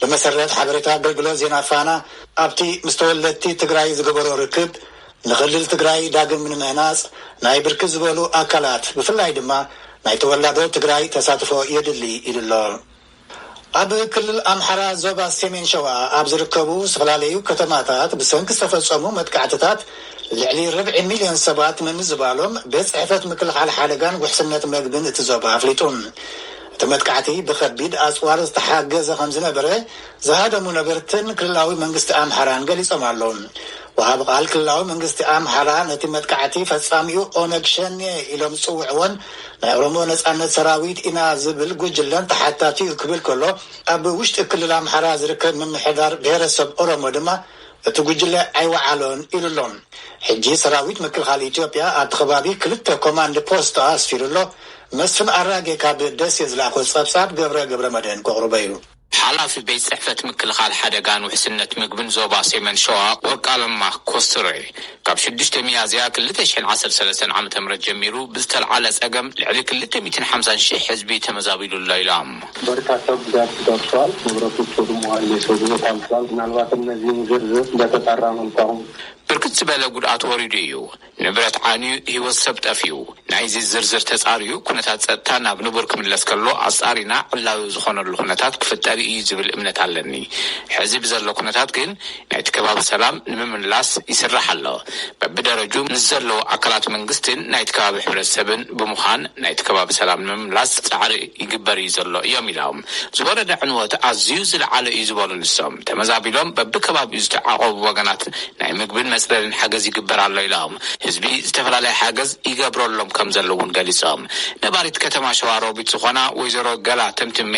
ብመሰረት ሓበሬታ ኣገልግሎት ዜና ፋና፣ ኣብቲ ምስ ተወለድቲ ትግራይ ዝገበሮ ርክብ፣ ንክልል ትግራይ ዳግም ንምህናፅ ናይ ብርክት ዝበሉ ኣካላት ብፍላይ ድማ ናይ ተወላዶ ትግራይ ተሳትፎ የድሊ ኢሉ ኣሎ። ኣብ ክልል ኣምሓራ ዞባ ሰሜን ሸዋ ኣብ ዝርከቡ ዝተፈላለዩ ከተማታት ብሰንኪ ዝተፈፀሙ መጥቃዕትታት ልዕሊ ርብዒ ሚልዮን ሰባት ምምዝባሎም ቤት ፅሕፈት ምክልኻል ሓደጋን ውሕስነት መግብን እቲ ዞባ ኣፍሊጡ። እቲ መጥቃዕቲ ብከቢድ ኣጽዋር ዝተሓገዘ ከምዝነበረ ዝሃደሙ ነበርትን ክልላዊ መንግስቲ ኣምሓራን ገሊጾም ኣለው። ወሃቢ ቃል ክልላዊ መንግስቲ ኣምሓራ ነቲ መጥቃዕቲ ፈጻሚኡ ኦነግ ሸኔ ኢሎም ዝጽውዕዎን ናይ ኦሮሞ ነጻነት ሰራዊት ኢና ዝብል ጉጅለን ተሓታቲ'ዩ ክብል ከሎ ኣብ ውሽጢ ክልል ኣምሓራ ዝርከብ ምምሕዳር ብሄረሰብ ኦሮሞ ድማ እቲ ጉጅለ ኣይወዓሎን ኢሉ ኣሎ። ሕጂ ሰራዊት ምክልኻል ኢትዮጵያ ኣብቲ ከባቢ ክልተ ኮማንድ ፖስት ኣስፊሩ ኣሎ። መስፍን ኣራጌ ካብ ደሴ ዝለኣኾ ጸብጻብ ገብረ ገብረመድህን ከቕርቦ ኢዩ። ሓላፊ ቤት ጽሕፈት ምክልኻል ሓደጋን ውሕስነት ምግብን ዞባ ሴመን ሸዋ ወርቃለማ ኮስትረ ካብ ሽዱሽተ ሚያዝያ ክልተ ሽሕን ዓሰርተ ሰለስተን ዓመተ ምህረት ጀሚሩ ብዝተልዓለ ጸገም ልዕሊ ክልተ ሚእትን ሓምሳን ሽሕ ህዝቢ ተመዛቢሉ ኣሎ ኢላ። በርካታ ጉዳት ደርሷል። ንብረቶች ወድመዋል፣ የሰው ህይወት አልፏል። ምናልባት እነዚህን ዝርዝር በተጣራ መልኩ አሁን። ብርክት ዝበለ ጉድኣት ወሪዱ እዩ፣ ንብረት ዓንዩ፣ ህይወት ሰብ ጠፊኡ። ናይዚ ዝርዝር ተፃርዩ ኩነታት ፀጥታ ናብ ንቡር ክምለስ ከሎ ኣፃሪና ዕላዊ ዝኾነሉ ኩነታት ክፍጠር እዩ ዝብል እምነት ኣለኒ። ሕዚ ብዘሎ ኩነታት ግን ናይቲ ከባቢ ሰላም ንምምላስ ይስራሕ ኣሎ። በብደረጁ ምስ ዘለዉ ኣካላት መንግስቲን ናይቲ ከባቢ ሕብረተሰብን ብምዃን ናይቲ ከባቢ ሰላም ንምምላስ ፃዕሪ ይግበር እዩ ዘሎ እዮም ኢሎም። ዝወረደ ዕንወት ኣዝዩ ዝለዓለ እዩ ዝበሉ ንሶም፣ ተመዛቢሎም በቢከባቢኡ ዝተዓቖቡ ወገናት ናይ ምግብን መፅለልን ሓገዝ ይግበር ኣሎ ኢሎም። ህዝቢ ዝተፈላለየ ሓገዝ ይገብረሎም ከምዘሎ እውን ገሊፆም። ነባሪት ከተማ ሸዋሮቢት ዝኾና ወይዘሮ ገላ ተምትሜ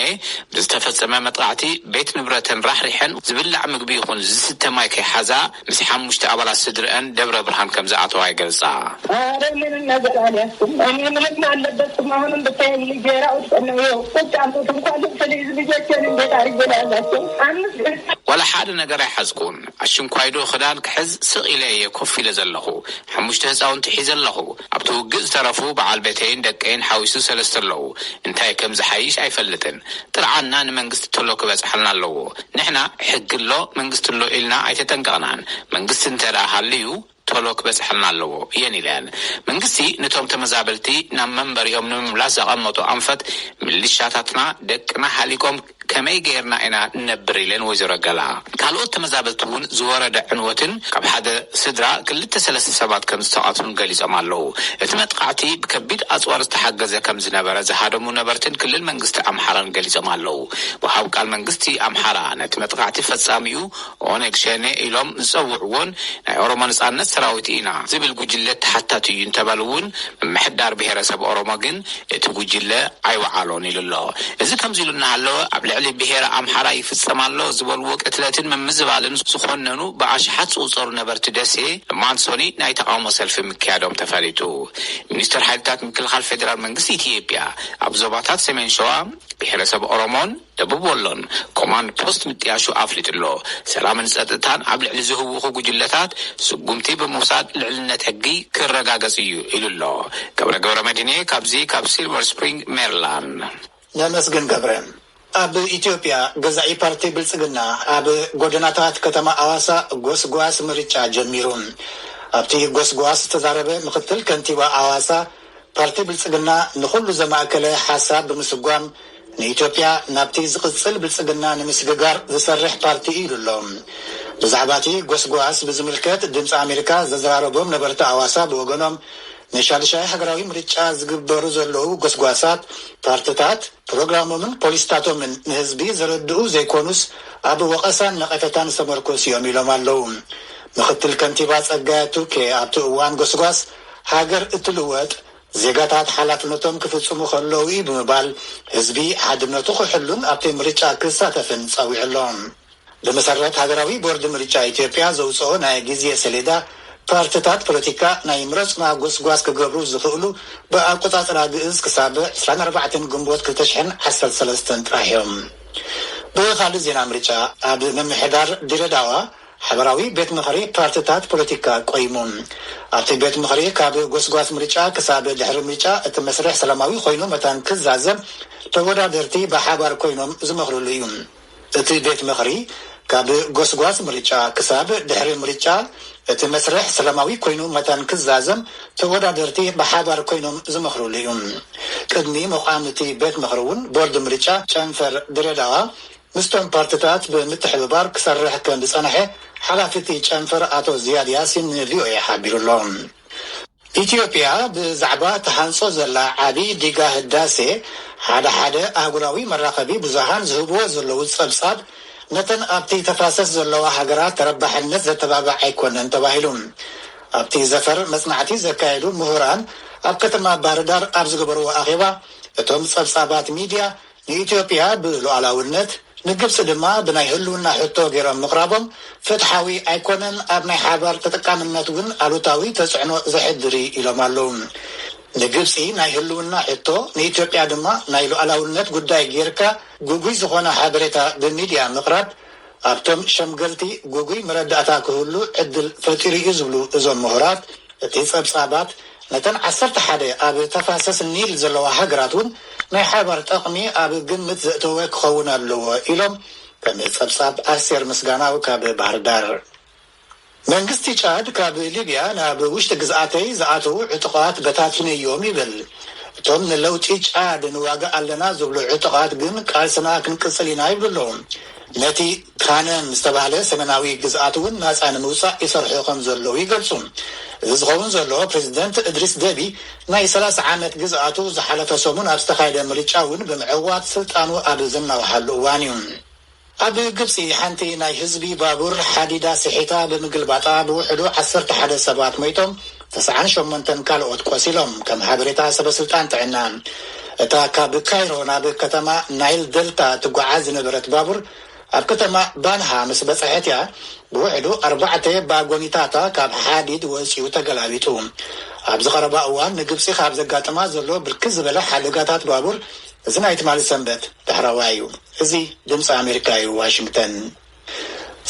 ብዝተፈጸመ መጥቓዕቲ ቤት ንብረተን ራሕሪሐን ዝብላዕ ምግቢ ይኹን ዝስተ ማይ ከይሓዛ ምስ ሓሙሽተ ኣባላት ስድርኣን ደብረ ብርሃን ከምዝኣተዋ ይገልጻ። ዋላ ሓደ ነገር ኣይሓዝኩን፣ ኣሽንኳይዶ ክዳን ክሕዝ ስቕ ኢለ እየ ኮፍ ኢለ ዘለኹ፣ ሓሙሽተ ህጻውንቲ ሒዘ ኣለኹ፣ ኣብቲ ውግእ ዝተረፉ በዓል ቤተይን ደቀይን ሓዊሱ ሰለስተ ኣለዉ። እንታይ ከም ዝሓይሽ ኣይፈልጥን። ጥርዓንና ንመንግስቲ ቶሎ ክበጽሓልና ኣለዎ። ንሕና ሕጊ ኣሎ መንግስቲ ኣሎ ኢልና ኣይተጠንቀቕናን። መንግስቲ እንተድኣ ሃልዩ ቶሎ ክበጽሓልና ኣለዎ እየን ኢለን። መንግስቲ ንቶም ተመዛበልቲ ናብ መንበሪኦም ንምምላስ ዘቐመጦ ኣንፈት፣ ሚሊሻታትና ደቅና ሃሊቆም፣ ከመይ ገይርና ኢና ንነብር ኢለን ወይዘሮ ገላ ካልኦት ተመዛበልቲ እውን ዝወረደ ዕንወትን ካብ ሓደ ስድራ ክልተ ሰለስተ ሰባት ከምዝተቐትሉን ገሊፆም ኣለው። እቲ መጥቓዕቲ ብከቢድ ኣፅዋር ዝተሓገዘ ከምዝነበረ ዝሃደሙ ነበርትን ክልል መንግስቲ ኣምሓራን ገሊፆም ኣለው። ወሃብ ቃል መንግስቲ ኣምሓራ ነቲ መጥቓዕቲ ፈፃሚኡ ኦነግ ሸኔ ኢሎም ዝፀውዕዎን ናይ ኦሮሞ ነፃነት ሰራዊት ኢና ዝብል ጉጅለ ተሓታቲ እዩ እንተበሉ እውን ምምሕዳር ብሄረሰብ ኦሮሞ ግን እቲ ጉጅለ ኣይወዓሎን ኢሉ ኣሎ። እዚ ከምዚ ኢሉ እናሃለወ ኣብ ልዕሊ ብሄረ ኣምሓራ ይፍፀም ኣሎ ዝበልዎ ቅትለትን ምምዝባልን ዝኾነኑ ብኣሽሓት ዝቑፀሩ ነበርቲ ደሴ ሎማዕንቲ ሶኑይ ናይ ተቓውሞ ሰልፊ ምክያዶም ተፈሊጡ። ሚኒስትር ሓይልታት ምክልኻል ፌዴራል መንግስቲ ኢትዬጵያ ኣብ ዞባታት ሰሜን ሸዋ፣ ብሄረሰብ ኦሮሞን፣ ደቡብ ወሎን ኮማንድ ፖስት ምጥያሹ ኣፍሊጡ'ሎ። ሰላምን ጸጥታን ኣብ ልዕሊ ዝህውኹ ጉጅለታት ስጉምቲ ብምውሳድ ልዕልነት ሕጊ ክረጋገጽ እዩ ኢሉ'ሎ። ገብረ ገብረመድህን'የ ካብዚ ካብ ሲልቨር ስፕሪንግ ሜሪላንድ። ነመስግን ገብረ። ኣብ ኢትዮጵያ ገዛኢ ፓርቲ ብልፅግና ኣብ ጎደናታት ከተማ ኣዋሳ ጎስጓስ ምርጫ ጀሚሩ። ኣብቲ ጎስጓስ ዝተዛረበ ምክትል ከንቲባ ኣዋሳ ፓርቲ ብልፅግና ንኹሉ ዘማእከለ ሓሳብ ብምስጓም ንኢትዮጵያ ናብቲ ዝቕፅል ብልፅግና ንምስግጋር ዝሰርሕ ፓርቲ እዩ ኢሉ ኣሎ። ብዛዕባ እቲ ጎስጓስ ብዝምልከት ድምፂ ኣሜሪካ ዘዘራረቦም ነበርቲ ኣዋሳ ብወገኖም ንሻድሻይ ሃገራዊ ምርጫ ዝግበሩ ዘለዉ ጎስጓሳት ፓርትታት ፕሮግራሞምን ፖሊስታቶምን ንህዝቢ ዘረድኡ ዘይኮኑስ ኣብ ወቐሳን ነቐፈታን ዝተመርኮሱ እዮም ኢሎም ኣለዉ። ምኽትል ከንቲባ ፀጋዬ ቱኬ ኣብቲ እዋን ጎስጓስ ሃገር እትልወጥ ዜጋታት ሓላፍነቶም ክፍፅሙ ከለዉ እዩ ብምባል ህዝቢ ሓድነቱ ክሕሉን ኣብቲ ምርጫ ክሳተፍን ፀዊዑ ኣሎ። ብመሰረት ሃገራዊ ቦርድ ምርጫ ኢትዮጵያ ዘውፀኦ ናይ ግዜ ሰሌዳ ፓርትታት ፖለቲካ ናይ ምረፁና ጎስጓስ ክገብሩ ዝኽእሉ ብኣቆፃፅራ ግእዝ ክሳብ ዕስራን ኣርባዕተን ግንቦት ክልተ ሽሕን ዓሰርተ ሰለስተን ጥራሕ እዮም። ብኻሊእ ዜና ምርጫ ኣብ ምምሕዳር ዲረዳዋ ሓበራዊ ቤት ምኽሪ ፓርቲታት ፖለቲካ ቆይሙ። ኣብቲ ቤት ምኽሪ ካብ ጎስጓስ ምርጫ ክሳብ ድሕሪ ምርጫ እቲ መስርሕ ሰላማዊ ኮይኑ መታን ክዛዘም ተወዳደርቲ ብሓባር ኮይኖም ዝመኽርሉ እዩ። እቲ ቤት ምኽሪ ካብ ጎስጓስ ምርጫ ክሳብ ድሕሪ ምርጫ እቲ መስርሕ ሰላማዊ ኮይኑ መታን ክዛዘም ተወዳደርቲ ብሓባር ኮይኖም ዝመኽርሉ እዩ። ቅድሚ ምቛም እቲ ቤት ምኽሪ እውን ቦርድ ምርጫ ጨንፈር ድሬዳዋ ምስቶም ፓርትታት ብምትሕብባር ክሰርሕ ከምዝጸንሐ ሓላፊ'ቲ ጨንፈር ኣቶ ዝያድ ያሲን ንቪኦኤ ሓቢሩ'ሎ። ኢትዮጵያ ብዛዕባ ትሃንጾ ዘላ ዓቢ ዲጋ ህዳሴ ሓደ ሓደ ኣህጉራዊ መራኸቢ ብዙሃን ዝህብዎ ዘለዉ ጸብጻብ ነተን ኣብቲ ተፋሰስ ዘለዋ ሃገራት ተረባሕነት ዘተባብዕ ኣይኮነን ተባሂሉ ኣብቲ ዘፈር መጽናዕቲ ዘካየዱ ምሁራን ኣብ ከተማ ባህርዳር ኣብ ዝገበርዎ ኣኼባ እቶም ጸብጻባት ሚድያ ንኢትዮጵያ ብሉኣላውነት፣ ንግብፂ ድማ ብናይ ህልውና ሕቶ ገይሮም ምቕራቦም ፍትሓዊ ኣይኮነን፣ ኣብ ናይ ሓባር ተጠቃምነት እውን ኣሉታዊ ተፅዕኖ ዘሕድር እዩ ኢሎም ኣለው። ንግብፂ ናይ ህልውና ሕቶ፣ ንኢትዮጵያ ድማ ናይ ሉኣላውነት ጉዳይ ገይርካ ግጉይ ዝኾነ ሓበሬታ ብሚድያ ምቕራብ፣ ኣብቶም ሸምገልቲ ግጉይ መረዳእታ ክህሉ ዕድል ፈጢሩ'ዩ ዝብሉ እዞም ምሁራት፣ እቲ ጸብጻባት ነተን ዓሰርተ ሓደ ኣብ ተፋሰስ ኒል ዘለዋ ሃገራት'ውን ናይ ሓባር ጠቕሚ ኣብ ግምት ዘእተወ ክኸውን ኣለዎ ኢሎም ከም ጸብጻብ ኣስቴር ምስጋናው ካብ ባህርዳር። መንግስቲ ጫድ ካብ ሊብያ ናብ ውሽጢ ግዝኣተይ ዝኣተዉ ዕጡቓት በታቲነዮም ይብል። እቶም ንለውጢ ጫድ ንዋጋእ ኣለና ዝብሉ ዕጡቓት ግን ቃልስና ክንቅጽል ኢና ይብሉ ኣለዉ። ነቲ ካነን ዝተባህለ ሰሜናዊ ግዝኣት'ውን ናጻ ንምውጻእ ይሰርሑ ከም ዘለዉ ይገልጹ። እዚ ዝኸውን ዘሎ ፕረዚደንት እድሪስ ደቢ ናይ ሰላሳ ዓመት ግዝኣቱ ዝሓለፈ ሰሙን ኣብ ዝተኻየደ ምርጫ'ውን ብምዕዋት ስልጣኑ ኣብ ዘናውሓሉ እዋን'ዩ። ኣብ ግብጺ ሓንቲ ናይ ህዝቢ ባቡር ሓዲዳ ስሒታ ብምግልባጣ ብውሕዱ ዓሰርተ ሓደ ሰባት ሞይቶም ተስዓን ሸሞንተን ካልኦት ቆሲሎም ከም ሓበሬታ ሰበስልጣን ጥዕና። እታ ካብ ካይሮ ናብ ከተማ ናይል ደልታ እትጓዓዝ ዝነበረት ባቡር ኣብ ከተማ ባንሃ ምስ በጽሐት እያ ብውሕዱ ኣርባዕተ ባጎኒታታ ካብ ሓዲድ ወጺኡ ተገላቢጡ። ኣብዚ ቀረባ እዋን ንግብጺ ካብ ዘጋጥማ ዘሎ ብርክት ዝበለ ሓደጋታት ባቡር እዚ ናይ ትማሊ ሰንበት ዳሕረዋይ እዩ። እዚ ድምጺ ኣሜሪካ እዩ ዋሽንግተን።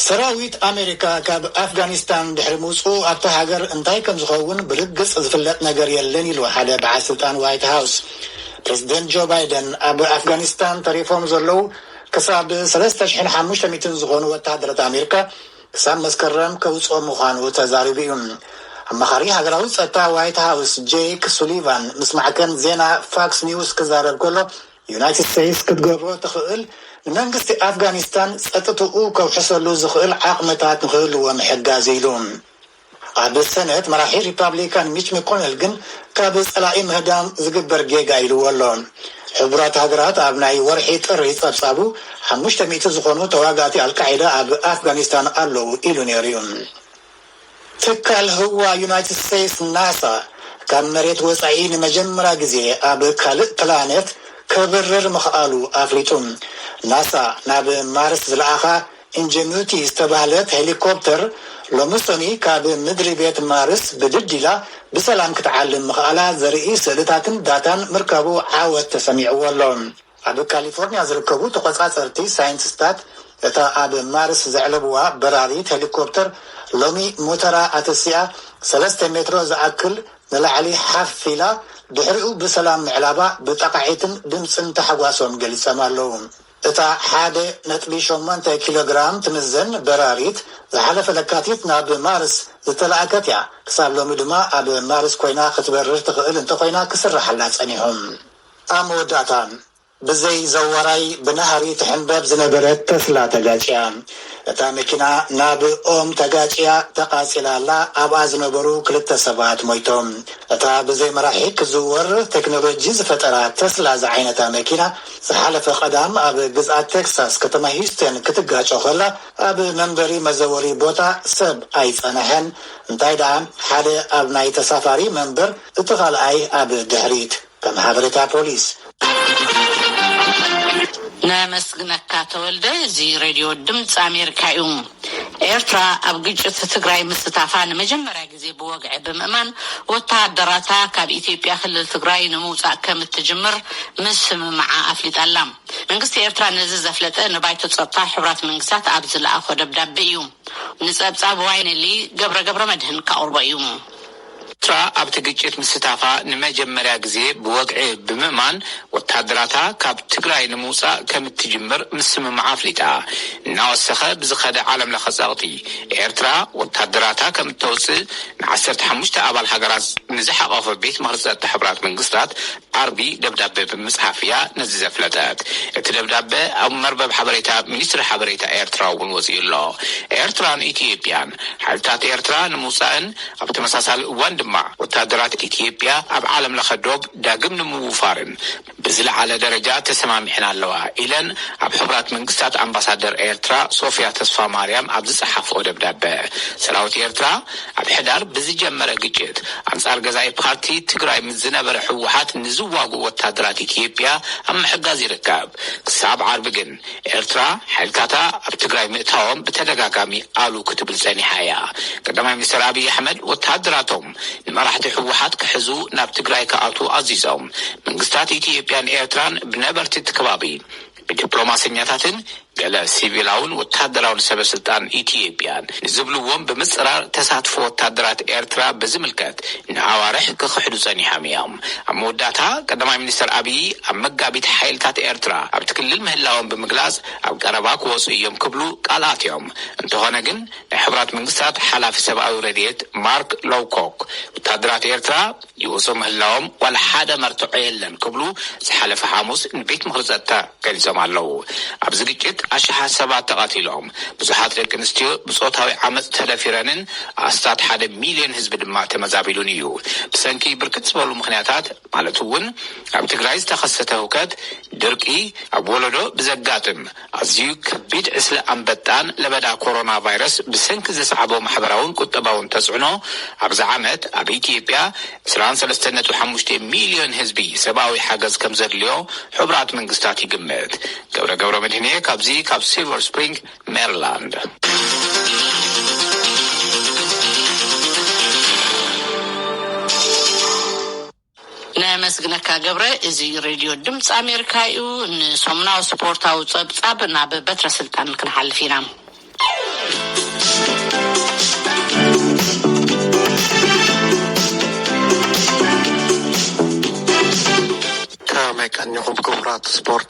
ሰራዊት ኣሜሪካ ካብ ኣፍጋኒስታን ድሕሪ ምውጽኡ ኣብታ ሃገር እንታይ ከም ዝኸውን ብርግጽ ዝፍለጥ ነገር የለን ኢሉ ሓደ በዓል ስልጣን ዋይት ሃውስ። ፕረዚደንት ጆ ባይደን ኣብ ኣፍጋኒስታን ተሪፎም ዘለዉ ክሳብ ሰለስተ ሽሕን ሓሙሽተ ሚእትን ዝኾኑ ወተሃደራት ኣሜሪካ ክሳብ መስከረም ከውጽኦ ምዃኑ ተዛሪቡ እዩ። ኣማኻሪ ሃገራዊ ጸጥታ ዋይት ሃውስ ጄክ ሱሊቫን ምስ ማዕከን ዜና ፋክስ ኒውስ ክዛረብ ከሎ፣ ዩናይትድ ስቴትስ ክትገብሮ ትኽእል ንመንግስቲ ኣፍጋኒስታን ጸጥትኡ ከውሕሰሉ ዝኽእል ዓቕምታት ንኽህልዎ ምሕጋዝ እዩ ኢሉ። ኣብ ሰነት መራሒ ሪፓብሊካን ሚች መኮነል ግን ካብ ፀላኢ ምህዳም ዝግበር ጌጋ ኢልዎ ኣሎ። ሕቡራት ሃገራት ኣብ ናይ ወርሒ ጥሪ ፀብፃቡ ሓሙሽተ ሚእቲ ዝኾኑ ተዋጋእቲ ኣልቃዒዳ ኣብ ኣፍጋኒስታን ኣለው ኢሉ ነይሩ ዩ። ትካል ህዋ ዩናይትድ ስቴትስ ናሳ ካብ መሬት ወፃኢ ንመጀመርያ ግዜ ኣብ ካልእ ፕላኔት ከብርር ምኽኣሉ ኣፍሊጡ። ናሳ ናብ ማርስ ዝለኣኻ ኢንጀኑቲ ዝተባህለት ሄሊኮፕተር ሎሚ ሰኑይ ካብ ምድሪ ቤት ማርስ ብድድ ኢላ ብሰላም ክትዓልም ምኽኣላ ዘርኢ ስእልታትን ዳታን ምርካቡ ዓወት ተሰሚዕዎ ኣሎ። ኣብ ካሊፎርንያ ዝርከቡ ተቖጻጸርቲ ሳይንቲስታት እታ ኣብ ማርስ ዘዕለቡዋ በራሪት ሄሊኮፕተር ሎሚ ሞተራ ኣተሲኣ ሰለስተ ሜትሮ ዝኣክል ንላዕሊ ሓፍ ኢላ ድሕሪኡ ብሰላም ምዕላባ ብጣቓዒትን ድምጽን ታሕጓሶም ገሊጾም ኣለዉ። እታ ሓደ ነጥቢ ሸሞንተ ኪሎ ግራም ትምዘን በራሪት፣ ዝሓለፈ ለካቲት ናብ ማርስ ዝተላእከት እያ። ክሳብ ሎሚ ድማ ኣብ ማርስ ኰይና ክትበርር ትኽእል እንተዀይና ክስርሓላ ጸኒሑ። ኣብ መወዳእታ፣ ብዘይ ዘዋራይ ብናህሪ ትሕንበብ ዝነበረት ተስላ ተጋጭያ። እታ መኪና ናብ ኦም ተጋጭያ ተቓጺላ ኣላ፣ ኣብኣ ዝነበሩ ክልተ ሰባት ሞይቶም። እታ ብዘይ መራሒ ክትዝወር ቴክኖሎጂ ዝፈጠራ ተስላ ዝዓይነታ መኪና፣ ዝሓለፈ ቀዳም ኣብ ግዝኣት ቴክሳስ ከተማ ሂዩስቴን ክትጋጮ ከላ ኣብ መንበሪ መዘወሪ ቦታ ሰብ ኣይጸነሐን፣ እንታይ ደኣ ሓደ ኣብ ናይ ተሳፋሪ መንበር እቲ ካልኣይ ኣብ ድሕሪት፣ ከም ሓበሬታ ፖሊስ። ነመስግነካ ተወልደ እዚ ሬድዮ ድምጺ ኣሜሪካ እዩ። ኤርትራ ኣብ ግጭት ትግራይ ምስታፋ ንመጀመርያ ግዜ ብወግዒ ብምእማን ወተሃደራታ ካብ ኢትዮጵያ ክልል ትግራይ ንምውጻእ ከም እትጅምር ምስምምዓ ኣፍሊጣ ኣላ። መንግስቲ ኤርትራ ነዚ ዘፍለጠ ንባይቶ ጸጥታ ሕቡራት መንግስታት ኣብ ዝለኣኾ ደብዳቤ እዩ። ንጸብጻብ ዋይነሊ ገብረ ገብረመድህን ከቕርቦ እዩ። ኤርትራ ኣብቲ ግጭት ምስታፋ ንመጀመርያ ግዜ ብወግዒ ብምእማን ወተሃደራታ ካብ ትግራይ ንምውጻእ ከም እትጅምር ምስምማዓ ኣፍሊጣ። እናወሰኸ ብዝኸደ ዓለምለኸ ጸቕጢ፣ ኤርትራ ወተሃደራታ ከም እተውጽእ ንዓሰርተ ሓሙሽተ ኣባል ሃገራት ንዝሓቖፈ ቤት ምኽሪ ጸጥታ ሕቡራት መንግስታት፣ ዓርቢ ደብዳበ ብምጽሓፍ እያ ነዚ ዘፍለጠት። እቲ ደብዳበ ኣብ መርበብ ሓበሬታ ሚኒስትሪ ሓበሬታ ኤርትራ'ውን ወጺኡ ኣሎ። ኤርትራን ኢትዮጵያን ሓይልታት ኤርትራ ንምውጻእን ኣብ ተመሳሳሊ እዋን ድማ ወተሃደራት ኢትዮጵያ ኣብ ዓለምለኸ ዶብ ዳግም ንምውፋርን ብዝለዓለ ደረጃ ተሰማሚዐን ኣለዋ ኢለን ኣብ ሕቡራት መንግስታት ኣምባሳደር ኤርትራ ሶፍያ ተስፋማርያም ኣብ ዝጸሓፍኦ ደብዳበ ሰራዊት ኤርትራ ኣብ ሕዳር ብዝጀመረ ግጭት ኣንፃር ገዛኢ ፓርቲ ትግራይ ምስ ዝነበረ ህወሓት ንዝዋግኡ ወታደራት ኢትዮጵያ ኣብ ምሕጋዝ ይርከብ። ክሳብ ዓርቢ ግን ኤርትራ ሓይልታታ ኣብ ትግራይ ምእታዎም ብተደጋጋሚ ኣሉ ክትብል ፀኒሓ እያ። ቀዳማይ ሚኒስትር ኣብይ ኣሕመድ ወታደራቶም ንመራሕቲ ህወሓት ክሕዙ ናብ ትግራይ ክኣትዉ ኣዚዞም። መንግስታት ኢትዮጵያን ኤርትራን ብነበርቲ እቲ ከባቢ ብዲፕሎማሰኛታትን ገለ ሲቪላውን ወተሃደራውን ሰበስልጣን ኢትዮጵያን ንዝብልዎም ብምጽራር ተሳትፎ ወተሃደራት ኤርትራ ብዝምልከት ንኣዋርሕ ክኽሕዱ ጸኒሖም እዮም። ኣብ መወዳእታ ቀዳማይ ሚኒስተር ኣብዪ ኣብ መጋቢት ሓይልታት ኤርትራ ኣብቲ ክልል ምህላዎም ብምግላጽ ኣብ ቀረባ ክወጹ እዮም ክብሉ ቃል ኣትዮም። እንተኾነ ግን ናይ ሕቡራት መንግስታት ሓላፊ ሰብኣዊ ረድኤት ማርክ ሎውኮክ ወተሃደራት ኤርትራ ይውጹ ምህላዎም ዋላ ሓደ መርትዖ የለን ክብሉ ዝሓለፈ ሓሙስ ንቤት ምኽሪ ጸጥታ ገሊጾም ኣለዉ። ኣብዚ ግጭት ኣሽሓት ሰባት ተቐቲሎም፣ ብዙሓት ደቂ ኣንስትዮ ብጾታዊ ዓመጽ ተደፊረንን ኣስታት ሓደ ሚልዮን ህዝቢ ድማ ተመዛቢሉን እዩ። ብሰንኪ ብርክት ዝበሉ ምኽንያታት ማለት'ውን ኣብ ትግራይ ዝተኸሰተ ህውከት፣ ድርቂ፣ ኣብ ወለዶ ብዘጋጥም፣ ኣዝዩ ከቢድ ዕስለ ኣንበጣን ለበዳ ኮሮናቫይረስ ብሰንኪ ዘስዓቦ ማሕበራውን ቁጠባውን ተጽዕኖ፣ ኣብዚ ዓመት ኣብ ኢትዮጵያ ዕስራን ሰለስተን ነጥቢ ሓሙሽተ ሚልዮን ህዝቢ ሰብኣዊ ሓገዝ ከምዘድልዮ ሕቡራት መንግስታት ይግምት። ገብረ ገብረመድህን'የ ካብዚ ካብ ሲልቨር ስፕሪንግ ሜሪላንድ። ነመስግነካ ገብረ እዚ ሬድዮ ድምፂ ኣሜሪካ እዩ ንሰሙናዊ ስፖርታዊ ፀብፃብ ናብ በትረ ስልጣን ክንሓልፍ ኢና ከመይ ቀኒኹም ክቡራት ስፖርት